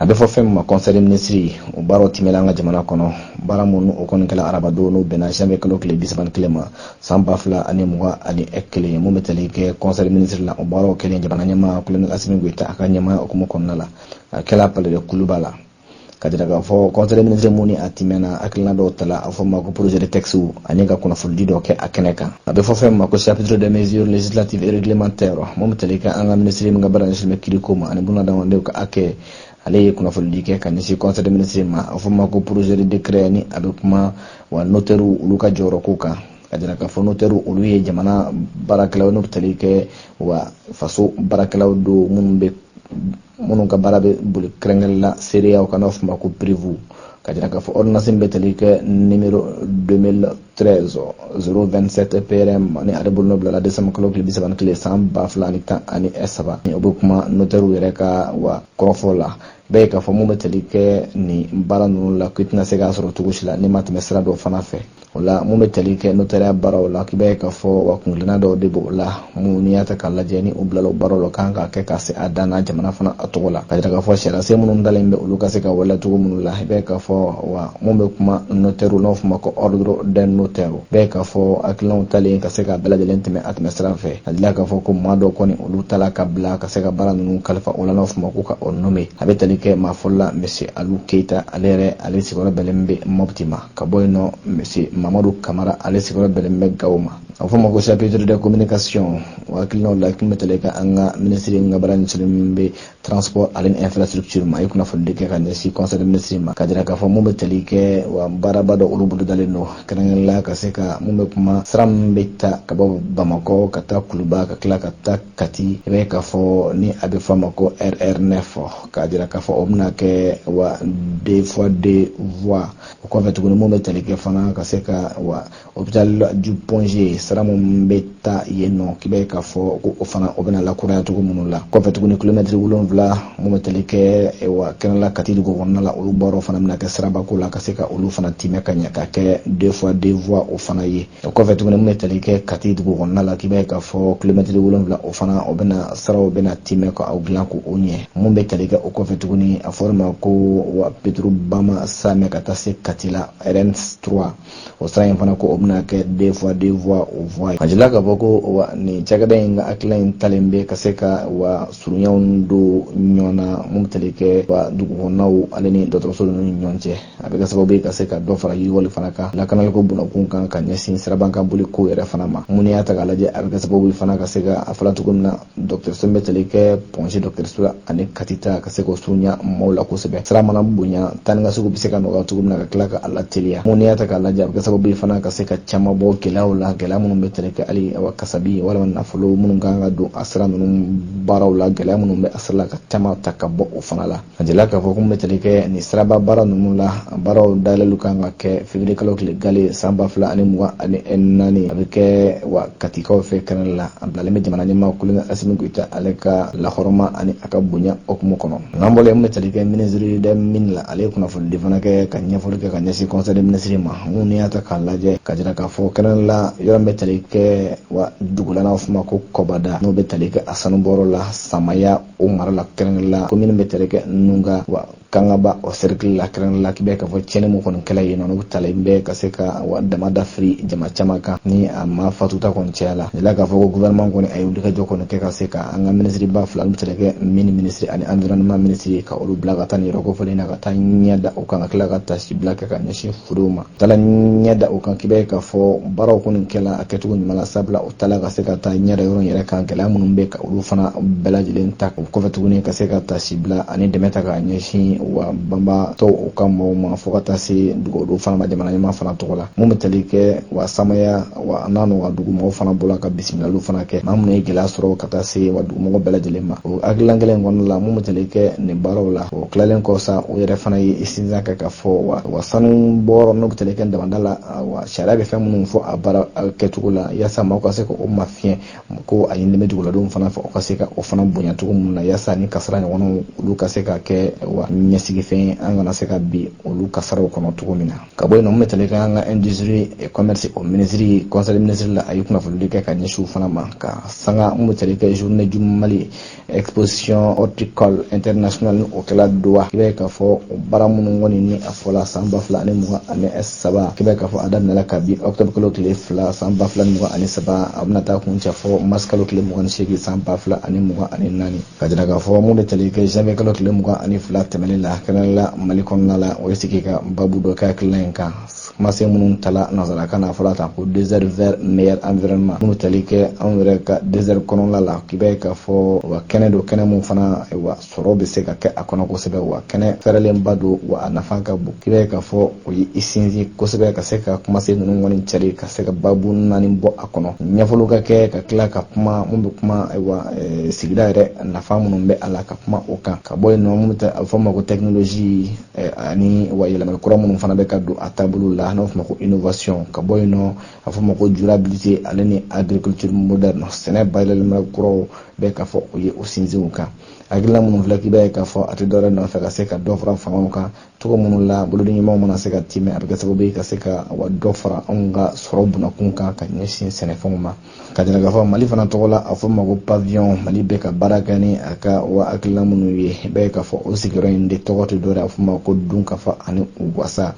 a bɛ fɔ fɛn min ma kɔnsɛyi minisiri o baaraw tɛmɛna an ka jamana kɔnɔ baara minnu o kɔni kɛla arabadon n'o bɛnna janvier kalo tile bisaba ni kelen ma san ba fila ani mugan ani kelen mun bɛ tali kɛ kɔnsɛyi minisiri la o baaraw kɛlen jamana ɲɛmaa kolonɛli asimi goyita a ka ɲɛmaaya hukumu kɔnɔna la a kɛla palais de kuluba la ka jira k'a fɔ kɔnsɛyi minisiri mun ni a tɛmɛna hakilina dɔw tala a fɔ ma ko projet de texte ani ka kunnafonidi dɔ kɛ a kɛnɛ kan a bɛ fɔ fɛn ma ko chapitre de mesure législative et réglementaire mun bɛ tali kɛ an ka minisiri min ka baara ɲɛsinnen bɛ kiriko ma ani bunadamadenw ka hakɛ ale ye kunnafonidi kɛ ka ɲɛsin conseil de ministre ma a fɔ ma ko projet de décret ni a bɛ kuma wa notɛriw olu ka jɔyɔrɔ ko kan a jira k'a fɔ notɛriw olu ye jamana baarakɛlaw n'u bɛ tali kɛ wa faso baarakɛlaw don minnu bɛ minnu ka baara bɛ boli kɛrɛnkɛrɛn la seereyaw kan n'o f'a ma ko preuve ka jira k'a fɔ ɔridonansi bɛ tali kɛ nimero 2013 027 prm ni ale bolo bilala desanba kalo tile bisaba ni kelen san ba fila ani tan ani saba o bɛ kuma notɛriw yɛrɛ ka wa kɔrɔfɔ la i b'a ye k'a fɔ mun bɛ tali kɛ nin baara ninnu la k'i tɛna se k'a sɔrɔ cogo si la n'i ma tɛmɛ sira dɔ fana fɛ o la mun bɛ tali kɛ notɛriya baaraw la k'i b'a ye k'a fɔ wa kungilenna dɔw de b'o la mun n'i y'a ta k'a lajɛ ni u bilala o baaraw la kan k'a kɛ ka se a dan na jamana fana a tɔgɔ la ka jira k'a fɔ sariyasen minnu talen bɛ olu ka se ka waleya cogo minnu la i b'a ye k'a fɔ wa mun bɛ kuma notɛriw n'o f'o ma ko ordre des notaires i b'a ye k'a fɔ hakilinaw talen ka se ka bɛɛ lajɛlen tɛmɛ a tɛmɛ sira fɛ ka jira k'a fɔ ko maa dɔ kɔni olu tala ka bila ka se ka baara ninnu kalifa o la n'o f'o ma ko ka o nome a bɛ tali kɛ maa fɔlɔ la monsieur alu keyita ale yɛrɛ ale sigiyɔrɔ bɛnnen bɛ mɔpti ma ka bɔ yen nɔ monsieur mamadu kamara ale sigiyɔrɔ bɛnnen bɛ gawo ma a fɔ ma ko chapitre de communication o hakilinaw la mun bɛ tali kɛ an ka minisiri ka baara ɲɛsinnen min bɛ transport ani infrastructure ma a ye kunnafonidi kɛ ka ɲɛsin conseil de ministre ma ka jira k'a fɔ mun bɛ tali kɛ wa baaraba dɔ olu bolodalen don kɛrɛnkɛrɛnnenya la ka se ka mun bɛ kuma sira min bɛ ta ka bɔ bamakɔ ka taa kuluba ka tila ka taa kati i b'a ye k'a fɔ ni a bɛ fɔ a ma ko rr9 k'a jira k'a fɔ o bɛna kɛ wa deux fois deux voies o kɔfɛ tuguni mun bɛ tali kɛ fana ka se ka wa hôpital du Point G sira mun bɛ taa yen nɔ k'i b'a ye k'a fɔ ko o fana o bɛna lakuraya cogo minnu la kɔfɛ tuguni kilomɛtiri wolonwula mun bɛ tali kɛ wa kɛnɛla Kati dugu kɔnɔna la olu baaraw fana bɛna kɛ sirabako la ka se ka olu fana timɛ ka ɲɛ ka kɛ deux fois deux voies o fana ye o kɔfɛ tuguni mun bɛ tali kɛ kati dugu kɔnɔna la k'i b'a ye k'a fɔ kilomɛtiri wolonwula o fana o bɛna siraw bɛna timɛ ka o dilan ko o ɲɛ mun bɛ tali kɛ o kɔfɛ tuguni a fɔra ma ko wa petro bama samɛ ka taa se kati la rn 3 o sira in fana ko o bɛna kɛ deux fois deux voies o voie ye a jira k'a fɔ ko wa nin cakɛda in ka hakilina in talen bɛ ka se ka wa surunyaw don ɲɔgɔn na mun bɛ tali kɛ wa dugukɔnɔnaw ale ni dɔgɔtɔrɔso ninnu ni ɲɔgɔn cɛ a bɛ kɛ sababu ye ka se ka dɔ fara yiriwali fana kan lakanaliko bunakun kan ka ɲɛsin sirabakan boliko yɛrɛ fana ma mun y'a ta k'a lajɛ a bɛ kɛ sababu ye fana ka se ka a fɔla cogo min na dɔgɔtɔrɔso bɛ tali kɛ point g dɔgɔtɔrɔso la ani kati ta ka se k'o surunya maaw la kosɛbɛ sira mana bonya taa ni ka seginw bɛ se ka nɔgɔya cogo min na ka tila ka a lateliya mun y'a ta k'a lajɛ a bɛ kɛ sababu ye fana ka se ka caman bɔ gɛlɛyaw la gɛlɛya minnu bɛ tali kɛ hali awa kasabi walima nafolo minnu kan ka don a sira ninnu baaraw la gɛlɛya minnu bɛ a sira la ka caman ta ka bɔ o fana la A jirala k'a fɔ ko min bɛ tali kɛ nin siraba baara ninnu la baaraw dayɛlɛli kan ka kɛ février kalo tile gale san ba fila ani mugan ani naani a bɛ kɛ wa katikaw fɛ kɛrɛnkɛrɛn la a bilalen bɛ jamana ɲɛmaa colonel assimi goïta ale ka lahɔrɔma ani a ka bonya hukumu kɔnɔ n'an bɔla yen min bɛ tali kɛ minisiri des mines la ale ye kunnafonidi fana kɛ ka ɲɛfɔli kɛ ka ɲɛsin conseil des ministres ma min n'i y'a ta k'a lajɛ k'a jira k'a fɔ kɛrɛnkɛrɛn la yɔrɔ bɛ tali kɛ wa dugu la n'a fɔ a ma ko kɔbada n'o bɛ tali kɛ a sanubɔyɔrɔ la samaya o mara la kɛrɛnkɛrɛn la komini bɛ tali kɛ nuga wa kangaba o sɛrikili la kɛrɛnkɛrɛn la k'i bɛ k'a fɔ tiɲɛni min kɔni kɛla yen n'o bɛ tali kɛ ka se ka wa daman dafiri jama caman kan ni a maa fatuta kɔni cayala a jirala k'a fɔ ko gouvernement kɔni a ye wulikajɔ kɔni kɛ ka se ka an ka minisiriba fila n'u bɛ tali kɛ mines minisiri ani environnement minisiri ka olu bila ka taa nin yɔrɔ kofɔlen na ka taa ɲɛ da o kan ka tila ka taasibila kɛ ka ɲɛsin furew ma taala ɲɛ da o kan k'i b'a ye k'a fɔ baaraw kɔni kɛla a kɛcogo ɲuman na sabula u taala ka se ka taa ɲɛ da yɔrɔ yɛrɛ kan gɛlɛya minnu bɛ ka olu fana bɛɛ lajɛlen ta o kɔfɛ tuguni ka se ka taasibila ani dɛmɛ ta ka ɲɛsin wa banbaatɔw u ka mɔgɔw ma fo ka taa se dugawudon fana ma jamana ɲɛmaa fana tɔgɔ la mun bɛ tali kɛ wa samaya wa n'a n'u ka dugumɔgɔ fana bɔra ka bisimilaliw fana kɛ maa minnu ye gɛlɛya sɔrɔ ka taa se wa dugumɔgɔ bɛɛ lajɛlen ma o hakilina kelen kɔnɔna la mun bɛ tali kɛ nin baaraw la o tilalen kɔ sa o yɛrɛ fana ye sinsin kɛ k'a fɔ wa wa sanu bɔyɔrɔ n'o bɛ tali kɛ damanda la wa sariya bɛ fɛn minnu fɔ a baara kɛcogo la yaasa maaw ka se ka o mafiɲɛ ko a ɲinini bɛ duguladenw fana fɛ o ka se ka o fana bonya cogo minnu na yaasa nin kasara ɲɔgɔnnaw olu ka se ka kɛ wa ɲɛsigifɛn an kana se ka bin olu kasaraw kɔnɔ cogo min na ka bɔ yen n'o bɛ tali kɛ an ka industrie et commerce o ministre conseil ministre la a ye kunnafonidi kɛ ka ɲɛsin u fana ma ka se ka n'o bɛ tali kɛ journée du mali exposition horticole internationale ni o kɛla doha i b'a ye k'a fɔ o baara minnu kɔni ni a fɔla san ba fila ani mugan ani saba i b'a ye k'a fɔ a daminɛla kabi octobre kalo tile fila san ba fila ni mugan ani saba a bɛna taa kuncɛ fo mars kalo tile mugan ni seegin san ba fila ani mugan ani naani k'a jira k'a fɔ mun bɛ tali kɛ janvier kalo tile mugan ani fila tɛmɛnen la kɛnɛla mali kɔnɔna la o ye sigi ka babu dɔ kɛ hakilina in kan kumasen minnu tala nanzarakan na fɔlɔ ta ko désert vert meilleur environnement min bɛ tali kɛ anw yɛrɛ ka désert kɔnɔla la k'i b'a ye k'a fɔ wa kɛnɛ don kɛnɛ min fana wa sɔrɔ bɛ se ka kɛ a kɔnɔ kosɛbɛ wa kɛnɛ fɛrɛlenba don wa a nafa ka bon k'i b'a ye k'a fɔ o ye i sinsin kosɛbɛ ka se ka kumasen ninnu kɔni cari ka se ka babu naani bɔ a kɔnɔ ɲɛfɔli ka kɛ ka tila ka kuma minnu bɛ kuma ayiwa eh, sigida yɛrɛ nafa minnu bɛ a la ka kuma o kan ka bɔ yen nɔ minnu a bɛ fɔ ma ko tɛkinolozi eh, ani wa yɛlɛmali kura minnu fana bɛ ka don a taabolo la n'a fɔ ma ko innovation ka bɔ yen nɔ a fɔ ma ko durabilité ale ni agriculture moderne sɛnɛ bayɛlɛmali kuraw bɛ k'a fɔ u ye u sinsin o kan hakilina minnu filɛ k'i b'a ye k'a fɔ a tɛ dɔwɛrɛ nɔfɛ ka se ka dɔ fara fangaw kan cogo minnu la bolodiɲɔgɔnma mana se ka tiimɛ a bɛ kɛ sababu ye ka se ka wa dɔ fara anw ka sɔrɔ bunakun kan ka ɲɛsin sɛnɛfɛnw ma ka jira k'a fɔ mali fana tɔgɔ la a fɔ ma ko paviyɔn mali bɛ ka baara kɛ ni a ka wa hakilina minnu ye i b'a ye k'a fɔ o sigiyɔrɔ in de tɔgɔ tɛ dɔwɛrɛ a fɔ ma ko dunkafa ani u wasa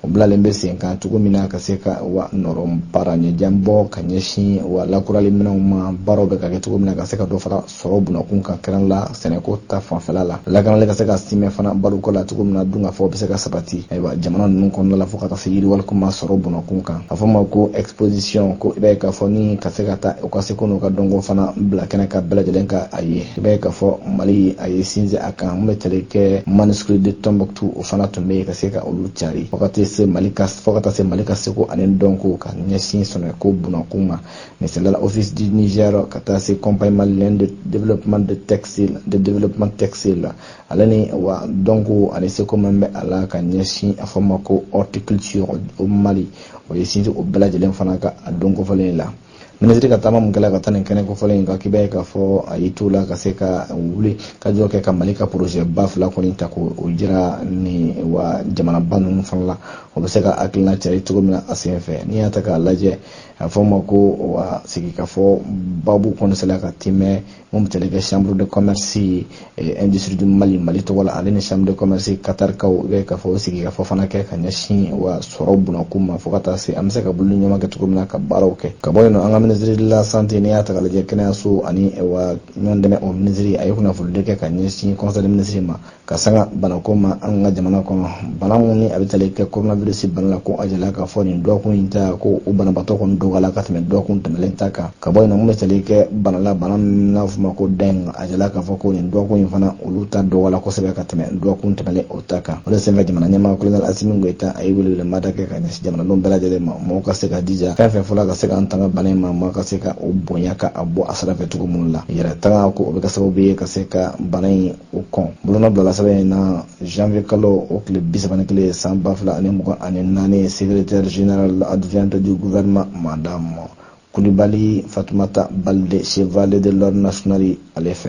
o bilalen bɛ sen kan cogo min na ka se ka wa nɔrɔ baara ɲɛjan bɔ ka ɲɛsin wa lakurali minɛnw ma baaraw bɛ ka kɛ cogo min na ka se ka dɔ fara sɔrɔ bunakun kan kɛrɛn la sɛnɛko ta fanfɛla la lakanali ka se ka simɛ fana baloko la cogo min na dunkafa bɛ se ka sabati ayiwa jamana ninnu kɔnɔna la fo ka taa se yiriwaliko ma sɔrɔ bunakun kan a fɔ ma ko exposition ko i b'a ye k'a fɔ ni ka se ka taa u ka seko n'u ka dɔnko fana bila kɛnɛ kan bɛɛ lajɛlen ka a ye i b'a ye k'a fɔ mali a y'i sinsin a kan min bɛ tali kɛ manuscrit de tombouctou o fana tun bɛ yen ka se ka olu cari fo ka taa se mali ka seko ani dɔnko ka ɲɛsin sɛnɛko bunakun ma misali la l'office du Niger ka taa se compagnie malienne de développement de textile de développement textile ale ni wa donc ale seko min bɛ a la ka ɲɛsin a fɔ ma ko horticulture o mali o ye sinsin o bɛɛ lajɛlen fana kan a don kofɔlen la minisiri ka taama min kɛla ka taa nin kɛnɛ kofɔlen in kan i b'a ye k'a fɔ a y'i t'o la ka se ka wulikajɔ kɛ ka mali ka projet ba fila kɔni ta k'o jira nin wa jamanaba ninnu fana la o bɛ se ka hakilina cari cogo min na a sen fɛ n'i y'a ta k'a lajɛ a fɔ ma ko wa sigikafɔ babu kɔni sela ka tiimɛ min bɛ tali kɛ chambre de commerce et industrie du mali mali tɔgɔ la ale ni chambre de commerce katarikaw i bɛ ka fɔ o sigikafɔ fana kɛ ka ɲɛsin wa sɔrɔ bunakun ma fo ka taa se an bɛ se ka bolodiɲɔgɔnma kɛ cogo min na ka baaraw kɛ ka bɔ yen nɔ an ka minisiri de la santé n'i y'a ta ka lajɛ kɛnɛyaso ani eh, wa ɲɔgɔn dɛmɛ o minisiri a ye kunnafonidi kɛ ka ɲɛsin conseil de minisiri ma ka sanga banako ma an ka jamana kɔnɔ bana min ni a bɛ tali kɛ coronavirus bana la ko a jɛla k'a fɔ nin dɔgɔkun in ta ko o banabaatɔ kɔni dɔgɔyala ka tɛmɛ dɔgɔkun tɛmɛlen ta kan ka bɔ yen nɔ min bɛ tali kɛ bana la bana min n'a fɔ ma ko dengue a jɛla k'a fɔ ko nin dɔgɔkun in fana olu ta dɔgɔyala kosɛbɛ ka tɛmɛ dɔgɔkun tɛmɛlen o ta kan o de senfɛ jamana ɲɛmaa kolonɛli asimi goyita a ye welewelemada kɛ ka ɲɛsin jamanadenw bɛɛ lajɛlen ma mɔgɔw ka se k'u jija fɛn fɛn fɔla ka se k'an tanga bana in ma mɔgɔ ka se ka o bonya ka a bɔ a sira fɛ cogo minnu la yɛrɛtangako o bɛ kɛ sababu ye ka se ka bana in o kɔni bolonɔ bilala sɛbɛn in na janvier kalo o tile bi saba ni kelen san ba fila ani mugan ani naani secrétaire générale adjointe du gouvernement madame kulibali fatumata balde chevalier de l'ordre national ale fɛ